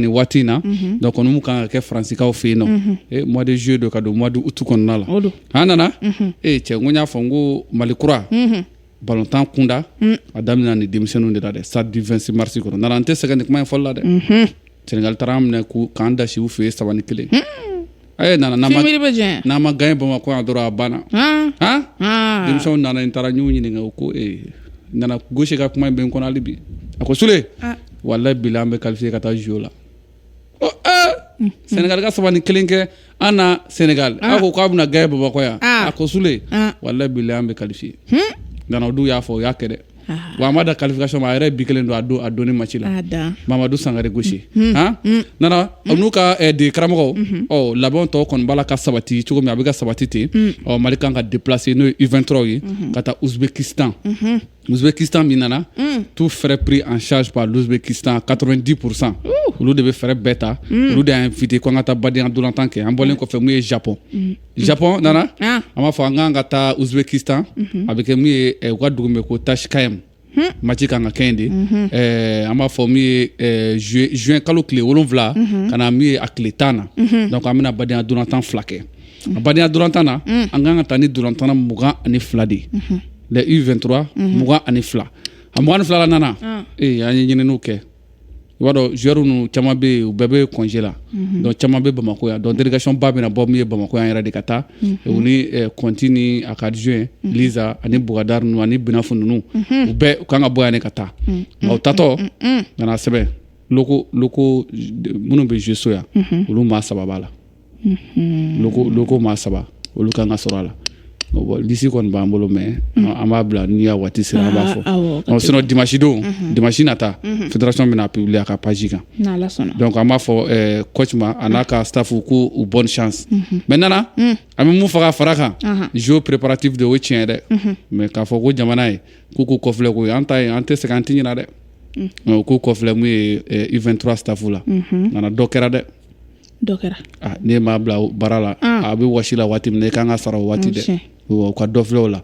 ni waati in na donc olu kan ka kɛ faransikaw fɛ yen nɔ mois de juillet don ka don mois d'août kɔnɔna la an nana ee cɛ n ko n y'a fɔ n ko mali kura balontan kunda a daminɛ ni denmisɛnninw de la dɛ stade du vingt-six mars kɔnɔ nana an tɛ sɛgɛn nin kuma in fɔli la dɛ sɛnɛgali taara an minɛ k'an dasi u fɛ yen saba ni kelen Ɛɛ nana n'a ma gagner n'a ma gagner bamakɔ yan dɔrɔn a banna denmisɛnw nana n taara ɲɔgɔn ɲininka o ko nana gaucher ka kuma in bɛ n kɔnɔ hali bi a ko sule wallahi billahi an bɛ qualifier ka taa jo la sɛnɛgali ka saba ni kelen kɛ an na sɛnɛgali a ko k'a bɛna gagner bamakɔ yan a ko sule wallahi billahi an bɛ qualifier nana o dun y'a fɔ o y'a kɛ dɛ wa a ma dan qualification ma a yɛrɛ ye bi kelen don a don in match la mamadu sangari gaucher nana n'u ka degekaramɔgɔw ɔ labɛn tɔw kɔni b'a la ka sabati cogo min a bɛ ka sabati ten ɔ mali kan ka déplacer n'o ye u23 ye ka taa ouzbékistan ouzbékistan min nana tout frais pris en charge par l'ouzbékistan quatre-vingt-dix pour cent olu de bɛ frais bɛɛ ta olu de y'an inviter ko an ka taa badenya ntolatan kɛ an bɔlen kɔfɛ mun ye japɔn Japɔn nana an b'a fɔ an ka kan ka taa ouzbékistan a bɛ kɛ min ye u ka dugu min ko tachkent match ka kan ka kɛ yen de an b'a fɔ min ye ju juin kalo tile wolonwula ka na min ye a tile tan na donc an bɛna badenya ntolatan fila kɛ a badenya ntolatan na an ka kan ka taa ni ntolatanna mugan ani fila de ye les u23 mugan ani fila a mugan ni fila la nana ee an ye ɲinininw kɛ i b'a dɔn joueurs ninnu caman bɛ yen u bɛɛ bɛ congé la mhm. donc caman bɛ bamakɔ yan donc délégation ba bɛna bɔ min ye bamakɔ yan yɛrɛ de ka taa mhm. u ni conti eh, ni a ka adjoint mhm. liza ani bugadari ninnu ani binafu ninnu u bɛɛ u kan ka bɔ yan ne ka taa nka u tatɔ nana sɛbɛn locaux locaux minnu bɛ jouer so yan olu maa saba b'a la locaux maa saba olu ka kan ka sɔrɔ a la lisi kɔni b'an bolo mais an b'a bila n'i y'a waati sera an b'a fɔ ah, sinon dimasidon mhm. dimasi nata mhm. federasiɔn bɛna publier a ka page kan donc an b'a fɔ eh, coach ma a n'a ka stafu ko u bonne chance mhm. mais nana mm. an bɛ mun fɔ ka fara kan jo préparatif de o tiɲɛ dɛ mais k'a fɔ ko jamana ye k'u k'u kɔfilɛ ko an tɛ an tɛ sɛgɛn an tɛ ɲina dɛ mm. k'u kɔfilɛ mun ye u23 stafu la nana dɔ kɛra dɛ dɔ kɛra ah, ni maa bila baara la ah. a bɛ wasi la waati min na i kan k'a sara o waati dɛ u ka dɔ filɛ o la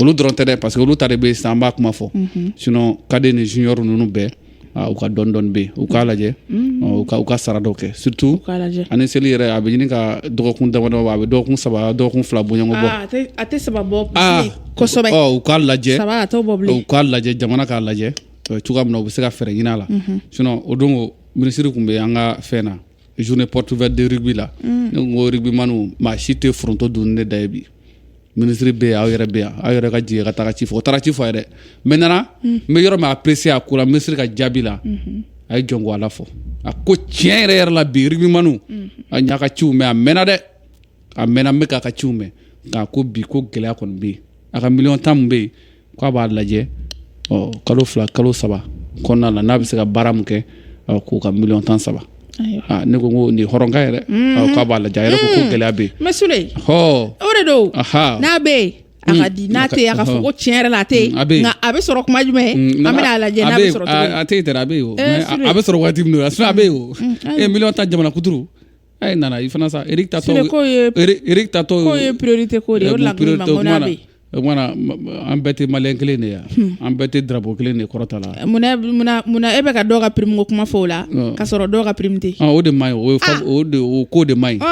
olu dɔrɔn tɛ dɛ parce que olu ta de bɛ sa an b'a kuma fɔ mhm. sinon cadet ni junior ninnu bɛɛ ah, u ka dɔɔnin dɔɔnin bɛ yen u k'a lajɛ mhm. u ka u ka sara dɔw kɛ surtout ani seli yɛrɛ a bɛ ɲini ka dɔgɔkun damadɔ a bɛ dɔgɔkun saba dɔgɔkun fila bɔɲɔgɔn bɔ a tɛ saba bɔ kosɛbɛ u k'a lajɛ u k'a lajɛ jamana k'a lajɛ cogoya min na u bɛ se ka fɛɛrɛ ɲini a la mhm. sinon o don minisiri tun bɛ an ka fɛn na journée porte ouverte de rugby la mm. ne ko rugbymanw maa si tɛ foronto dun ne da ye bi minisiri bɛ yan aw yɛrɛ bɛ yan aw yɛrɛ ka jigin ka taga ci fɔ o taara ci fɔ a yɛrɛ mais Nana mm. n bɛ yɔrɔ min apprécier a ko la minisiri ka jaabi la mm-hmm. a ye jɔnko ala fɔ a ko tiɲɛ yɛrɛ yɛrɛ la bi rugbymanw mm-hmm. n y'a ka ciw mɛn a mɛnna dɛ a mɛnna n bɛ k'a ka ciw mɛn nka ko bi ko gɛlɛya kɔni bɛ yen a ka miliyɔn tan min bɛ yen k'a b'a lajɛ ɔ kalo fila kalo saba kɔnɔna na n'a bɛ se ka baara min kɛ k'u ka miliyɔn tan sara ne ko ko nin hɔrɔnkan yɛrɛ mm. k'a b'a lajɛ a yɛrɛ ko ko mm. gɛlɛya bɛ yen mais Sule hɔ o de don n'a bɛ yen a k'a di n'a tɛ a k'a fɔ ko tiɲɛ yɛrɛ la a tɛ yen mm, nka a bɛ sɔrɔ kuma jumɛn an bɛna a lajɛ n'a bɛ sɔrɔ a tɛ yen dɛ a bɛ yen o eh, a bɛ sɔrɔ waati min na a bɛ yen o e eh, miliyɔn tan jamana kuturu ayi Nana i fana sa Eric ta tɔ ye priorité ko de an bɛɛ tɛ malien kelen de yan hmm. an bɛɛ tɛ drapeau kelen de kɔrɔta la munna e bɛ ka dɔw ka prime ko kuma fɔ o la ka sɔrɔ dɔw ka prime tɛ o de ma o ko de man ɲi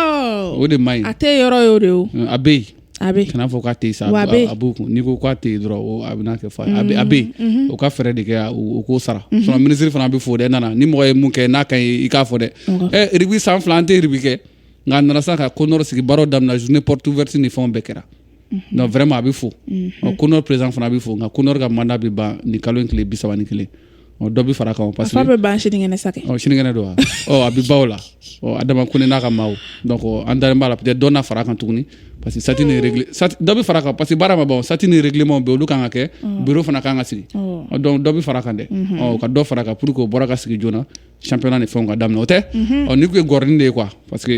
o de man ɲi a tɛ yɔrɔ ye o de a bɛ yen a bɛ kana fɔ k'a tɛ sa a b'u kun n'i ko k'a tɛ yen dɔrɔn a bɛna kɛ fa a bɛ a bɛ yen o ka fɛɛrɛ de kɛ o k'o sara minisiri fana bɛ fo dɛ Nana ni mɔgɔ ye mun kɛ n'a ka ɲi i k'a fɔ dɛ ɛ rugby san fila an tɛ rugby kɛ nka a nana sa ka Conor sigi baaraw daminɛ journée porte ouverte ni fɛnw bɛɛ kɛra donc vraiment a bɛ fo Conor président fana a bɛ fo nka Conor ka mandat bɛ ban nin kalo in tile bi saba ni kelen dɔ bɛ fara kan parce que a bɛ ban sinikɛnɛ sa sinikɛnɛ don wa a bɛ ban o la Adama Kone n'a ka maaw donc an dalen b'a la peut-être dɔ na fara kan tuguni parce que statut ni règle dɔ bɛ fara kan parce que baara ma ban statut ni règlement bɛ olu kan ka kɛ bureau fana kan ka sigi donc dɔ bɛ fara kan dɛ ka dɔ fara kan pour que bureau ka sigi joona championnat ni fɛnw ka daminɛ o tɛ n'i tun ye gɔrin de ye quoi parce que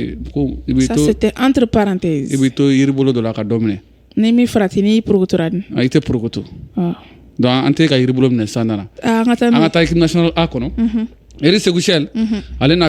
i bɛ to entre parenthèses i bɛ to yiri bolo dɔ la ka dɔ minɛ Ni min farati n'i porokotora dun? I tɛ porokoto. Ɔɔ. Donc an tɛ ka yiri bolo minɛ sa Nana. Aa an ka taa n'o ye. An ka taa équipe nationale A kɔnɔ. Unhun. Eric Sékou Chelle. Unhun. Ale na